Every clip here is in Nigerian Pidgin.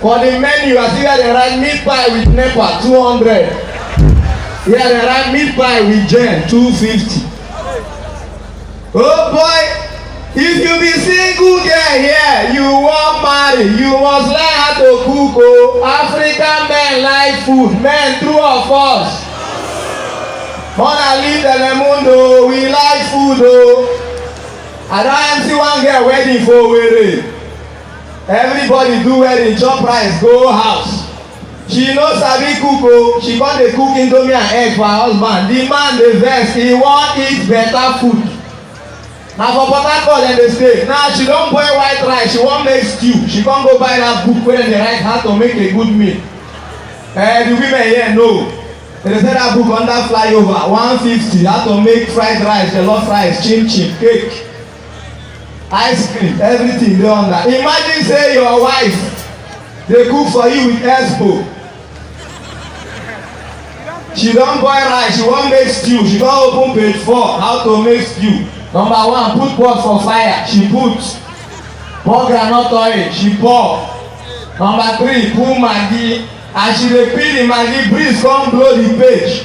For the menu, I see where they write meat pie with NEPA, 200. Where they write meat pie with Jen, 250. Oh boy, if you be single girl here, you wan marry, you must learn how to cook o. Oh. African men like food, men true or false? Mona leave Telemundo, oh. we like food o. Oh. I don empty one girl wedding for Owerri. everybody do wedding chop rice go house she no sabi cook o oh. she come dey cook indomie and egg for her husband the man dey vex he wan eat better food na for port harcourt dem dey stay now she don boil white rice she wan make stew she come go buy that book wey dem dey write how to make a good meal eh the women here know dem dey sell that book under flyover one fifty how to make fried rice jollof rice chim chim cake ice cream everything dey under imagine say your wife dey cook for you with expo she don boil rice she wan make stew she don open page four how to make stew number one put pot for fire she put pour groundnut oil she pour number three put maggi as she dey peel the maggi breeze come blow the page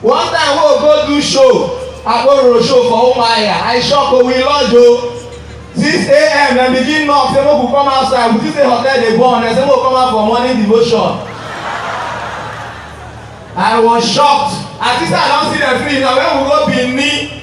One time wey we go do show, Abororo show for Umuahia, I shock o, we lodge o. Six AM dem begin knock say make we come outside, we think say hotel dey burn, dem say make we come out for morning devotion. I was shocked, as if say I don see dem finish, na when we go Benin